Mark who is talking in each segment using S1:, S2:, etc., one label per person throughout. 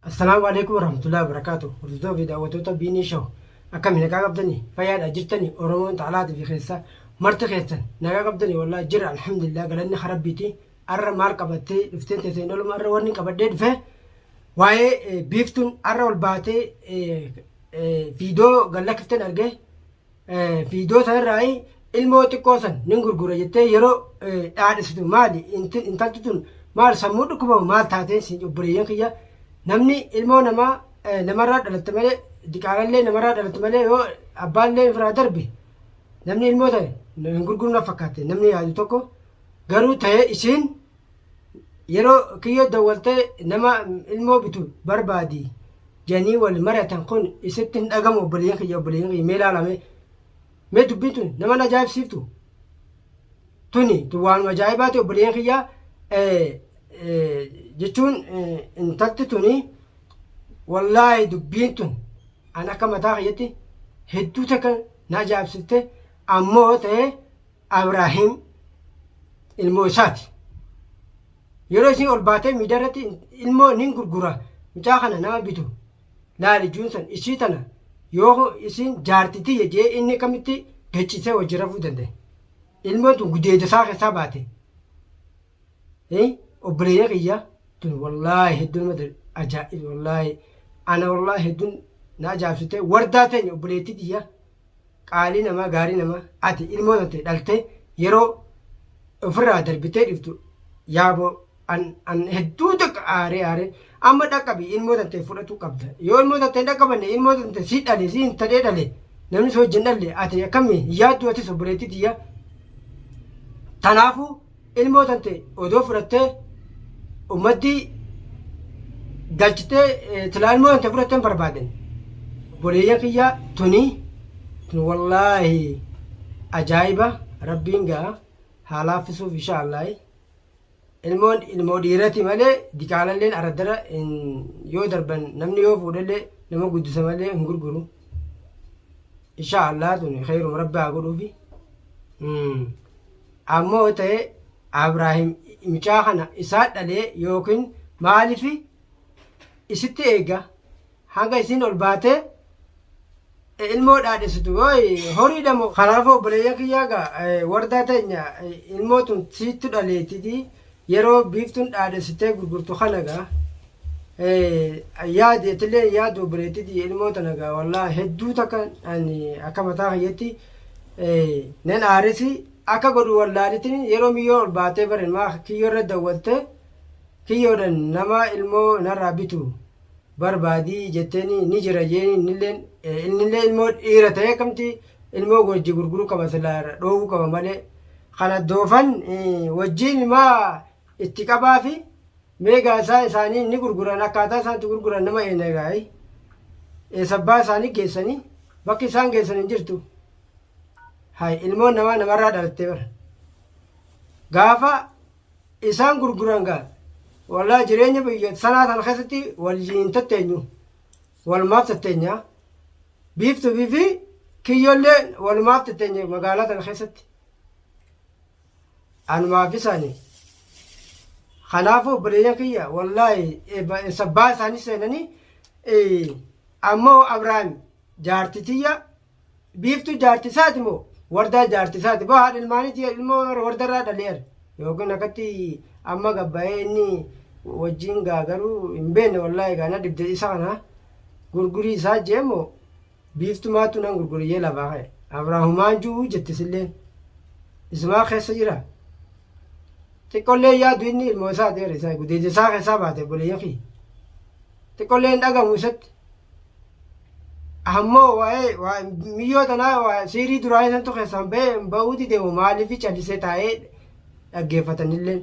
S1: Assalaamu Aleeykum Warahmatullaahi Wabarakaatuh Hordoftoota fi daawwattoota Biinii Show Akkami nagaa qabdani fayyaadha jirtani Oromoon taalaati fi keessaa marti keessan nagaa qabdani wallahi jira alhamdulillah galanni ka rabbiiti arra maal qabattee dhufteen teesseen dhaluma arra wanni qabadhee dhufe waa'ee biiftuun arra ol baatee fiidoo gallakkifteen argee Viidiyoo sanarraa ilmoo xiqqoo san nin gurgura jettee yeroo dhaadhisitu maali intalti tun maal sammuu dhukkubama maal taatee siin obboleeyyan kiyya namni ilmoo namaa namarraa dhalatte malee diqaalallee namarraa dhalatte malee yoo abbaallee irraa darbe namni ilmoo ta'e hin gurgurna fakkaate namni yaadu tokko garuu ta'ee isiin Yeroo kiyyoo dawwaltee nama ilmoo bitu barbaadi janii wal mariyatan kun isitti hin dhagamu obboleeyyan kiyya obboleeyyan kiyya mee laala mee mee dubbiin tun nama na ajaa'ibsiiftu tuni tun waanuma ajaa'ibaati obboleeyyan kiyya jechuun intalti tuni wallaahi dubbiin tun an akka mataa kiyyatti hedduu takka na ajaa'ibsiifte ammoo ta'ee Abraahim ilmoo isaati. Yeroo isin ol baatee miidiyaa irratti ilmoo nin gurgura mucaa kana nama bitu laali juunsan ishii tana yoo isin jaartitii jee inni kamitti gachiisee wajji rafuu danda'e. Ilmoon tun gudeeda isaa keessaa baate. Obboleeyya kiyya tun wallaahi hedduun mata ajaa'iba wallaahi ana wallaahi hedduun na ajaa'ibsite wardaa teenya obboleettii tiyya. Qaalii namaa gaarii namaa ati ilmoo tante dhaltee yeroo ofirraa darbitee dhiftu yaaboo an an hedduu takka aaree aaree amma dhaqqabi ilmoo tante fudhatu qabda yoo ilmoo tante hin dhaqqabanne ilmoo tante si dhale si hin tadhee dhale namni si wajjin dhalle ati akkami hin yaaddu atis obboleettii tiyya tanaafuu Ilmoo tante odoo fudhattee ummattii galchitee silaa ilmoo tante fudhattee hin barbaadan. Boleeyyan kiyyaa tunii tun wallaahi ajaa'iba rabbiin gaa haa laaffisuuf insha Allaahi. Ilmoon ilmoo dhiirati malee diqaalalleen araddara hin yoo darban namni yoo fuudhallee nama guddisa malee hin gurguru. Insha Allaahi tun kheeruma rabbi haa godhuufi. Mm. Ammoo ta'e Abraahim mucaa kana isaa dhalee yookiin maaliif isitti eega hanga isiin ol baatee ilmoo dhaadhessitu yooy horiidha moo. Kanaafuu obboleeyyan kiyyaa gaa wardaa teenya ilmoo tun siittu dhaleetiti Yeroo biiftuun dhaadhessitee gurgurtu kana gaa yaadi atilee yaadi obboleettii tiyya ilmoo tana gaa wallaahi hedduu takka ani akka mataa kiyyatti nan aaresi akka godhu wallaalitiin yeroo miyyoo ol baatee barin maa kiyyoo irra dawwalte kiyyoodhan nama ilmoo narraa bitu barbaadi jetteeni ni jira jeeni innilleen innillee ilmoo dhiira ta'ee akkamti ilmoo wajji gurguruu qaba silaa irra dhoowwuu qaba malee kana doofan wajjiin maa itti qabaa fi meegaa isaa isaanii ni gurguran akkaataa isaan itti gurguran nama eena egaa eesabbaa isaanii geessanii bakki isaan geessan hin jirtu hay ilmoon namaa namarraa dhalattee bara gaafa isaan gurguran gaa wallahi jireenya biyya sanaa sana keessatti waliin tatteenyu walumaaf tatteenya biiftuufi fi kiyyollee walumaaf tatteenye magaalaa sana keessatti anumaaf isaanii kanaafuu obboleeyyan kiyya wallahi sabbaa isaanii seenanii ammoo abrahaam jaartitiyya Biiftuu jaarti isaati moo wardaa jaarti isaati boo haadha ilmaaniiti ilmoo wardarraa dhaleer yookiin akkatti amma gabbaa'ee inni wajjin gaa garuu hin beekne wallaahi gaa na dhibde isa kana gurgurii isaa jee moo biiftumaatu nan gurguriyyee lafaa ka'e abraahumaan ju'uu jette silleen isumaa keessa jira xiqqollee yaadu inni ilmoo isaa ta'eera isaa gudeeja isaa keessaa baate boleeyyan kiyya xiqqollee hin dhagamu isatti Ammoo waa'ee waa- miyyoo tanaa waa- siirii duraa isantu keessaan ba'ee hin ba'uu dide hoo maaliif callisee taa'ee dhaggeeffatanillee.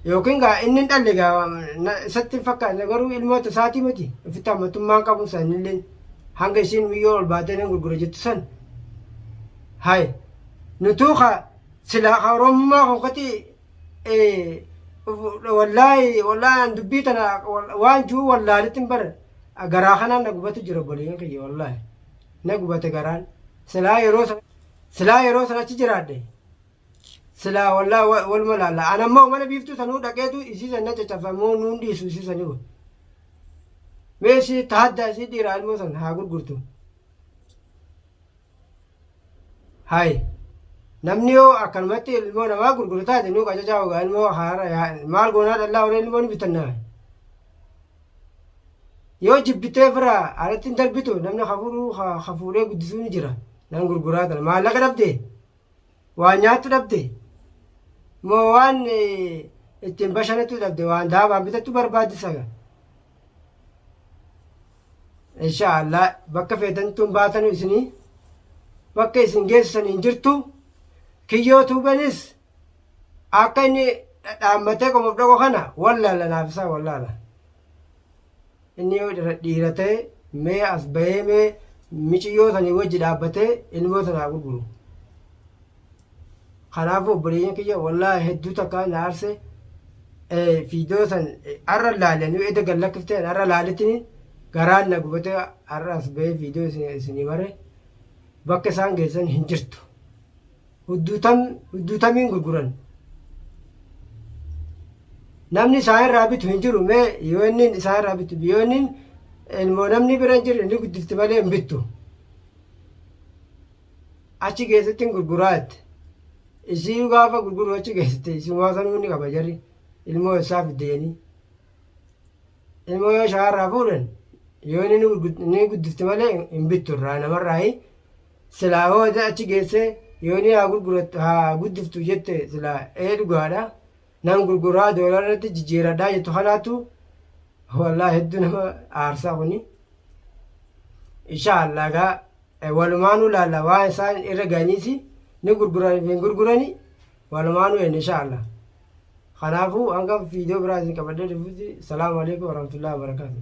S1: Yookiin gaa inni hin dhalle gaa na- isatti hin fakkaanne garuu ilmoota isaatii miti ofitti hammatummaan qabu sanillee hanga isiin miyyoo ol baatee nan gurgura jettu san. Hai nutuu ka silaa ka oromummaa konkoti wallaahi wallaahi an dubbii tana waan juu wallaalitti hin baran garaa kanaan na gubatu jira obboleeyyan kiyya wallaahi na gubate garaan silaa yeroo san silaa yeroo san achi jiraadhe silaa wallaahi wa- waluma laalla an ammoo mana biiftuu sanuu dhaqeetu isii san na caccafamoo nuun dhiisu isii sanii wa mee isii tahaddaa isii dhiiraa ilmoo san haa gurgurtu Hay. Namni yoo akkanumatti ilmoo namaa gurguru taate nu qacacaa ogaa ilmoo haara yaa maal goonaa dhallaa waree ilmoo ni bitannaa. Yoo jibbitee firaa alatti hin darbitu namni hafuuruu hafuuree guddisuu ni jira. Nan gurguraa tana maallaqa dhabdee. Waan nyaattu dhabde? Moo waan ittiin bashanattu dhabde? Waan daabaan bitattu barbaaddisa ga? Insha Allah bakka feetantuun baatanu isinii bakka isin geessisan hin jirtu. Kiyyoo tuubenis akka inni dhaammatee qomuuf dhaqu kana wallaala naaf isaa wallaala. Inni yoo dhiira ta'e mee as bahee mee miciyyoo sanii wajji dhaabbatee ilmoo sana haa gurguru. Kanaafuu obboleeyyan kiyya wallaahi hedduu takka na aarse fiidoo san har'a laalan yoo edda gad lakkiftee har'a laalettini garaan na gubatee har'a as bahee fiidoo isinii mare bakka isaan geessan hin jirtu. hudduutam hudduutamiin gurguran namni isaan irraa bitu hin jiru mee yoo inni isaan irraa bitu yoo inni ilmoo namni bira hin jirre ni guddifti malee hin bittu achi keessatti hin gurguraa jette isii gaafa gurguru achi keessatti isumaa sanuu ni qaba jarri ilmoo isaa fidde jedhanii ilmoo yoo shaarraa fuudhan yoo inni ni gurgu- ni guddifti malee hin bittu irraa namarraa hin Silaa hoo eda achi geessee yoonii haa gurgurattu haa guddiftu jette silaa ee dhugaadha nan gurguraa doolaarratti jijjiiradhaa jettu kanaatu wallaa hedduu nama aarsaa kuni inshaallah gaa walumaanuu laalla waan isaan irra ga'aniisi ni gurguranii fi hin gurguranii walumaanuu enne inshaallah kanaafuu hanga fiidiyoo biraa isin qabadhee dhufutti salaamu alaikum warahmatullahi wabarakaatuh